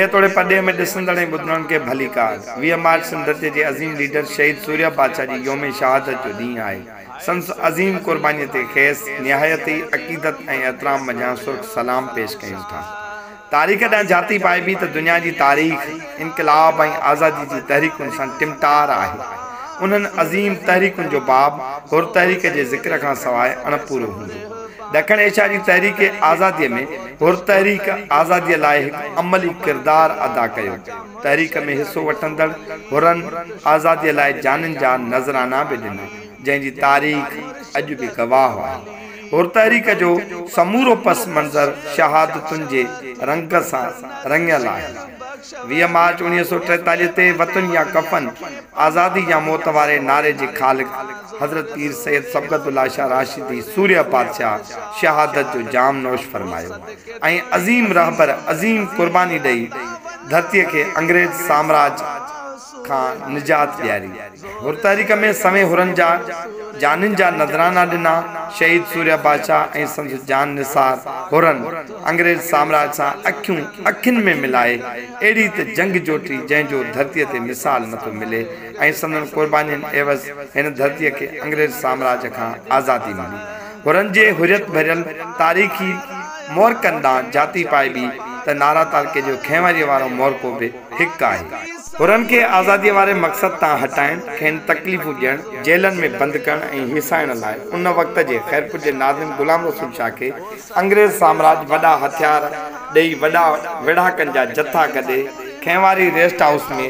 هيء توڙي پرڏيهه ۾ ڏسندڙ ۽ ٻڌندڙن کي ڀليڪار. ويهه مارچ سنڌ تي جي عظيم ليڊر شهيد سوريا بادشاهه جي يوم شهادت جو ڏينهن آهي. سندس عظيم قربانيء تي کيس نهايت ئي عقيدت ۽ احترام منجهان سرخ سلام پيش ڪيون ٿا. تاريخ ڏانهن جهاتي پائبي ته دنيا جي تاريخ انقلاب ۽ آزادي جي تحريڪن سان ٽمٽار آهي. انهن عظيم تحريڪن جو باب حر تحريڪ جي ذڪر کان سواء اڻپورو هوندو. ڏکڻ ايشيا جي تحريڪ آزادي ۾ حر تحريڪ آزادي لاء هڪ عملي ڪردار ادا ڪيو. تحريڪ ۾ حصو وٺندڙ حرن آزادي لاء جانين جا نذرانا به ڏنا، جنهن جي تاريخ اڄ به گواهه آهي. حر تحريڪ جو سمورو پس منظر شهادتن جي رنگ سان رڱيل آهي. ويهه مارچ اوڻيهه سؤ ٽيتاليهه تي وطن يا ڪفن، آزادي يا موت واري نعري جي خالق حضرت پير سيد صبغت الله شاهه راشدي سورهيه پادشاهه شهادت جو جام نوش فرمايو ۽ عظيم رهبر عظيم قرباني ڏئي ڌرتي کي انگريز سامراج کان نجات ڏياري. هرتاريخ ۾ سوين حرن جا جانين جا نذرانا ڏنا. شهيد سوريا بادشاهه ۽ سندس جان نثار حرن انگريز سامراج سان اکيون اکين ۾ ملائي اهڙي ته جنگ جوٽي جنهن جو ڌرتي تي مثال نه ٿو ملي ۽ سندن قربانين عيوض هن ڌرتي کي انگريز سامراج کان آزادي ملي. حرن جي حريت ڀريل تاريخي مورڪن ڏانهن جاتي پائبي ته نارا تعلقي جو کهنوريء وارو مورڪو به هڪ آهي. حرن کي آزاديء واري مقصد تان هٽائڻ، کين تڪليفون ڏيڻ، جيلن ۾ بند ڪرڻ ۽ هيسائڻ لاء ان وقت جي خيرپور جي ناظم غلام رسول شاهه کي انگريز سامراج وڏا هٿيار ڏيئي وڏا ويڙهاڪن جا جٿا گڏي کين واري ريسٽ هائوس ۾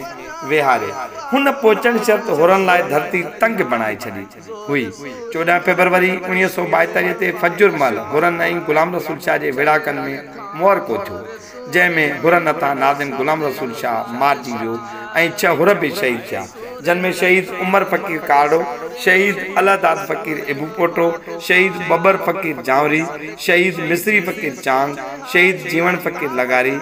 ويهاري هن پهچڻ شرط حرن لاء ڌرتي تنگ بڻائي ڇڏي. هئي. چوڏهن فيبروري اوڻيهه سؤ ٻائيتاليهه تي فجر مهل حرن ۽ غلام رسول شاهه جي ويڙهاڪن ۾ معرڪو ٿيو، جنهن ۾ حرن هٿان ناظم غلام رسول شاهه مارجي ويو ۽ ڇهه حر به شهيد ٿيا، جن ۾ شهيد عمر فقير ڪارڙو، شهيد الهداد فقير ابوپوٽو، شهيد ٻٻر فقير جانوري، شهيد مصري فقير چانگ، شهيد جيوڻ فقير لغاري،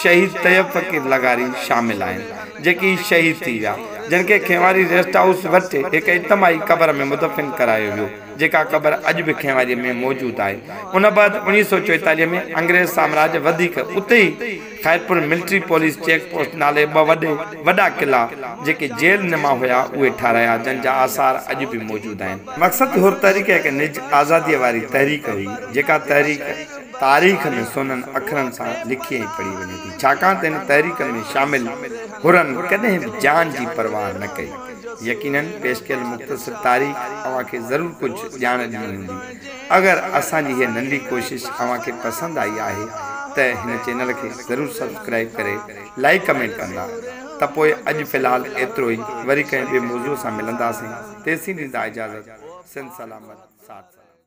شهيد طيب فقير لغاري شامل آهن. جيڪي شهيد ٿي ويا، جن کي کينواري ريسٽ هائوس وٽ هڪ اجتماعي قبر ۾ مدفن ڪرايو ويو، جيڪا قبر اڄ به کينواري ۾ موجود آهي. ان بعد اوڻيهه سؤ چوئيتاليهه ۾ انگريز سامراج وڌيڪ اتي ئي Khairpur military police check post نالي ٻه وڏي وڏا قلعا جيڪي جيل نما هيا اهي ٺاهرايا، جن جا آثار اڄ به موجود آهن. مقصد حر تحريڪ هڪ نج آزاديء واري تحريڪ هئي، جيڪا تحريڪ. تاريخ ۾ سونھن اکرن سان لکي ۽ پڙھي وڃي ٿي، ڇاڪاڻ ته ان تحريڪ ۾ شامل حرن ڪڏھن به جان جي پرواھ نه ڪئي. يقيناً پيش ڪيل مختصر تاريخ اوھان کي ضرور ڪجھ ڄاڻ ڏني ھوندي. اگر اسان جي ھيء ننڍي ڪوشش اوھان کي پسند آئي آھي ته ھن چينل کي ضرور سبسڪرائيب ڪري لائيڪ ڪمينٽ ڪندا ته پوء اڄ في الحال ايترو ئي وري ڪنھن ٻئي موضوع سان ملنداسين تيسين ڏيندا اجازت سنڌ سلامت ساٿ سلامت.